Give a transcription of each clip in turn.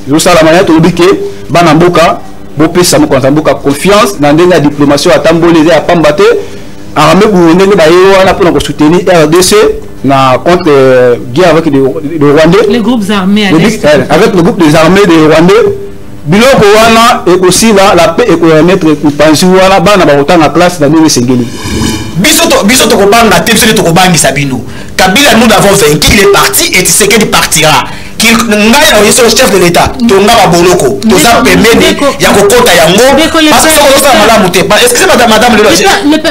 ezosalama ya tolobi ke bana mboka bopesa mokonzi ya mboka confiance na ndenge ya diplomatie atamboli eza ya pamba te arme burunde nde baye wana mpona kosoutenir rdc na contre euh, guerre avec le, le rwandais les groupes armés à l'est euh, avec le groupe des armées des rwandais biloko wana ekosila la paix ekoremettre mopanzi wana bana bakotanga classe na ndenge esengeli biso to biso tokobanga te biso nde tokobangisa bino kabila nous l'avons vaincu il est parti et tshisekedi partira ngai na yesu chef de l'état tonga baboloko toza pembeni ya kokota yango basokolosala malamu te excuse madame madame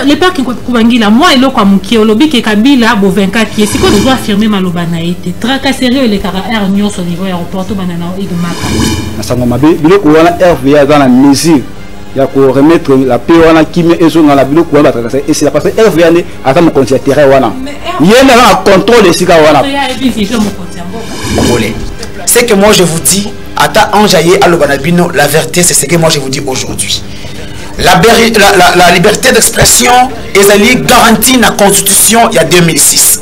le père kikubangila mwa eloko ya moke olobi ke kabila bovinkaki ye sikoyo tozo affirme maloba na ye te tracasserie elekaka aire nyonso niveau ya aéroport tobanda na egomaka masango mabe biloko wana rva aza na mesure ya koremettre la paix wana kimia ezonga na biloko wana batracase esila parce que rva nde aza mokonzi ya terrain wana ye nde aza na contrôle esika wana congolais ce que moi je vous dis ata ange aye aloba na bino la vérité c'est ce que moi je vous dis aujourd'hui la, la, la, la liberté d'expression ezali garantie na constitution ya 2006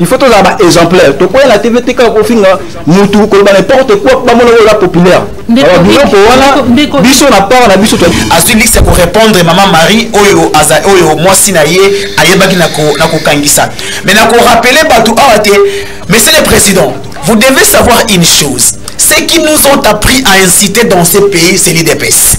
il faut tozala ba exemplaire tokoya na tv te kaka kofinga mutu koloba n'importe quoi bamona oyo oza populaire biloko wana biso na part na biso azwi liste ya korépondre mama marie oyo aza oyo mwasi na ye ayebaki na kokangisa mais na korapele bato awa te monsieur le président vous devez savoir une chose ce qui nous ont appris à inciter dans ce pays c'est l'idps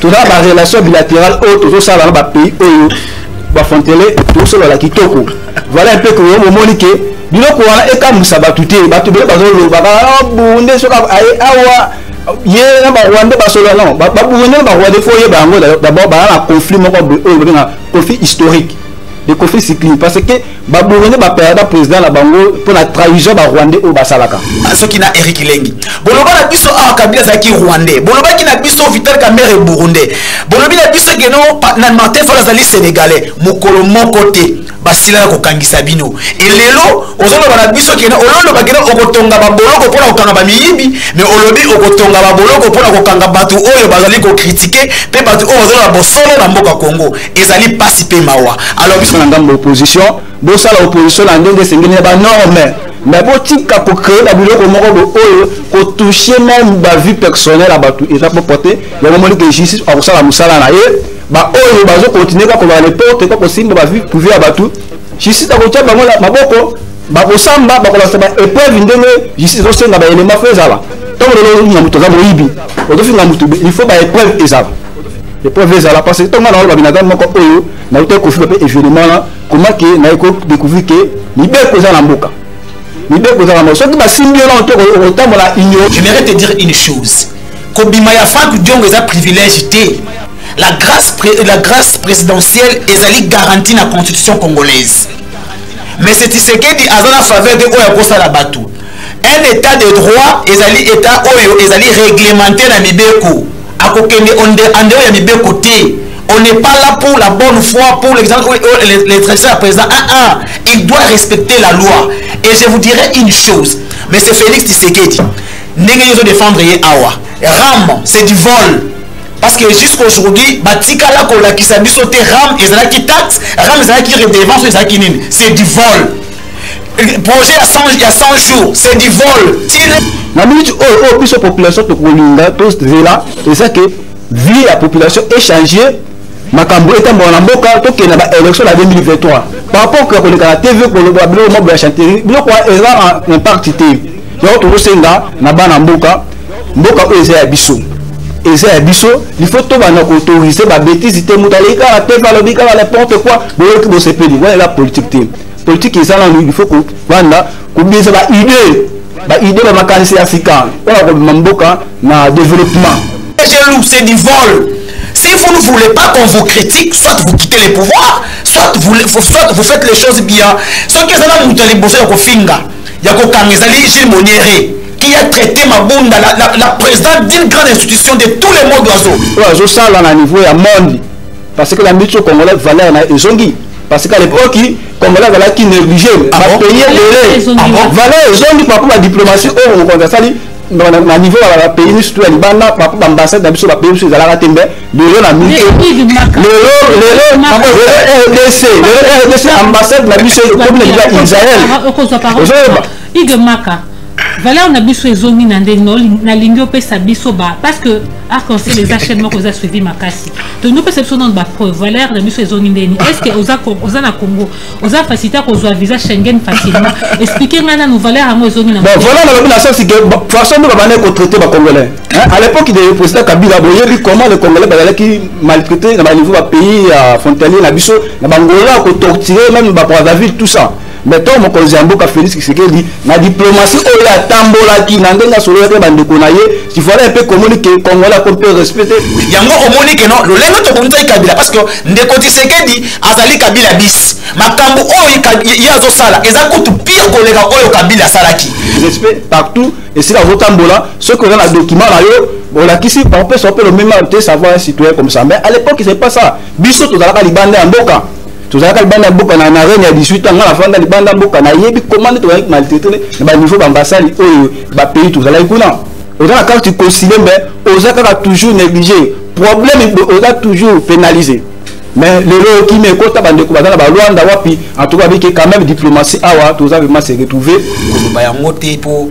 toza ba relation bilaterale oyo tozosala na bapays oyo bafontele tosolala kitoko voilà un peu que omoni ke biloko wana ekamwisa bato te bato bele bazolobaka ah, bunde soki aye awa ye na barwandais basolola non baburundais na barwandais fo oyeba yango d'abord baa na conflit moko oyo babenga conflit historique de kofi sikli parce que baburene bapayada président na bango mpo na trahison barwandais oyo basalaka ah, soki na eric lengi boloba na biso awa ah, kabila azalaki rwandais bolobaki na biso vital camere burundais bolobi na biso geno na martin fal azali sénégalais mokolo moko te basila na kokangisa bino elelo ozoloba na biso kena ololoba kena okotonga baboloko mpo na kokanga bamiyibi me olobi okotonga baboloko mpo na kokanga bato oyo bazali kokritike mpe bato oyo bazoloba bosolo na mboka congo ezali pasi pe mawa alors biso na ngambo opposition bosala opposition na ndenge esengeli na ba norme mais botika ko créer ba biloko moko bo oyo ko toucher même ba vie personnelle ya bato eza propre te yango omoni ke justice akosala mosala na ye baoyo bazo continue kaka kozala neporte kaka kosimba bavi prive ya bato justice akotya bango na maboko bakosamba bakolakisa ba épreuve ndenge justice ezosenga baelema fo ezala ntango lelo na moto aza moyibi ozofinga moto il faut ba épreuve ezala epreuve ezala parce que ntango nga naoloba binadamu moko oyo nautaki kofiba mpe événement na koma ke naye kodécouvrir ke mibeko eza na mboka mibeko eza na mboka soki basimbi yo nao te okotambola union je mairais te dire une chose kobima ya frank diongo eza privilège te la grâce, la grâce présidentielle ezali garantie na constitution congolaise mais c'est tisekedi aza na faveur te oyo akosala bato un état de droit ezali état oyo ezali réglementé na mibeko akokende ande oyo ya mibeko te on n'est pas là pour la bonne foi pour l'exemple les traditions ya président ah ah il doit respecter la loi et je vous dirai une chose mais c'est félix tisekedi ndenge yo ozodefendre ye awa ram c'est du vol parce que jusqu'aujourd'hui batikala kolakisa biso te ram ezalaki taxe ram ezalaki redevance ezalaki nini c'est du vol projet ya 100 ya 100 jours c'est du vol tire na minute oyo oh, oyo oh, biso population tokolinga tozela eza ke vie ya population échange makambo etambola na mboka tokende na baélection na 2023 par rapport ya koleka na tv koloba biloko mabula ya chanterie biloko eza na impact te yango tokosenga na bana mboka mboka oyo eza ya biso eza ya biso il faut tobanda koautorise babetise te moto aleki kaka tv alobi kaka n'importe quoi boyoki bosepeli wana eza politique te politique eza nanu il faut kobanda kobimisa ba idée ba idée ba makanisi ya sika oyo akobima mboka na développement jaloux c'est du vol si vous ne voulez pas qu'on vous critique soit vous quittez le pouvoir soit vous, soit vous faites les choses bien soki eza na moto ya liboso ya kofinga ya kokanga ezali gilles moniere qui a traité mabunda la, la, la présidente d'une grande institution de tous les modes oiseaux oyo azosala na niveau ya monde parce que bambi biso congolais valeur na ezongi parce qu'à l'époque congolais azalaki négligé ah bapays ebele ah valeur ezongi parcour ya diplomatie oyo oh, mokonzi asali na niveau ya bapays ni surtout ya libanda parcour baambassade na biso bapays biso ezalaka te mbe lelo na mito lelo lelo rdc lelo rdc ambassade na biso ekomi na biso ya israel ozoyeba Hugues Maka, valeur na biso ezongi na ndenge nalingi opesa biso ba parce que arc en ciel eza chaîne moko eza suivi makasi tolingi opesa biso nano bapreuve valeur na biso ezongi ndeni est ce que oza, oza na congo oza facilité akozwa visa schengen facilement explike ngai nano valeur yango ezongi na bon valeur nalobi na sasi ke façon nde babandaki kotraite bacongolais à l'époque de président kabila boyebi comment le congolais bazalaki maltraité na baniveau bapays ya frontalier na biso na bangola kotortire même bapoisaville tout ça mais to mokonzi ya mboka Felix Tshisekedi na diplomatie oyo atambolaki na ndenge asololaki na bandeko na ye tifala mpe komoni ke congolais akomi mpe respecte yango omoni ke no lolenge tokomisaki kabila parce que ndeko Tshisekedi azali kabila bis makambo oyo ye azosala eza kutu pire koleka oyo kabila asalaki respect partout esika azotambola soki oza na document na yo olakisi opesa mpe lomema te savoir un citoyen comme ça mais à l'époque c'est pas ça biso tozalaka libanda ya mboka tozalaka libanda ya mboka na na reine ya 18 ans nga nafanda libanda ya mboka nayebi koma nde tozalaki maltraite na baniveau bambasali oyo bapays tozalaki kuna oza na carte consile mbe oza kaka toujours négligé problème oza toujours pénalisé mais lelo okimi ekota bandeko baza na balwanda wapi en tout cas abiki quand même diplomatie awa toza vraiment se retrouver koloba yango te mpo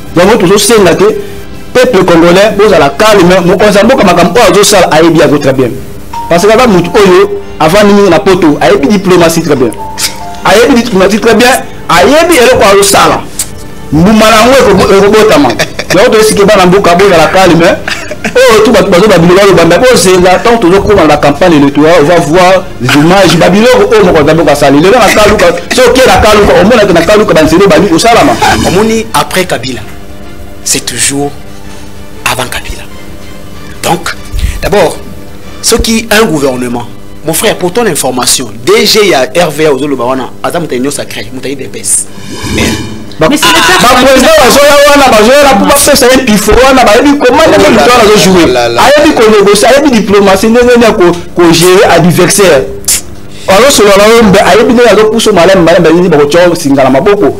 yango tozosenga te peuple congolais bozala calme mokonzi ya mboka makambo oyo azosala ayebi yango très bien parce que aza motu oyo avandi mingi na poto ayebi diplomatie très bien ayebi diplomatie très bien ayebi eloko azosala mbuma na yango ekobotama yango toyesiki bana mboka bozala calme oyo tu bato bazoba bino balobanda bozenga ntango tozokoma na campagne electorale ova voir image babiloko oyo mokonzi ya mboka asali lelo na kaluka so oke na kaluka omona te na kaluka banzela obandi kosalama omoni après kabila c'est toujours avant kabila donc d'abord soki un gouvernement mon frère pour ton information dg ya rva ozoloba wana aza moto ya union sacré moto ya idps bapresident bazoya wana bazoya na bapesa ye pifo wana bayebi koma ndenge moto wana azojoue ayebi konegocie ayebi diplomatie ndenge nini ya kogere adversaire azosolola na yo mbe ayebi ndenge azopuso malamu malamu bayebi bakotya singa na maboko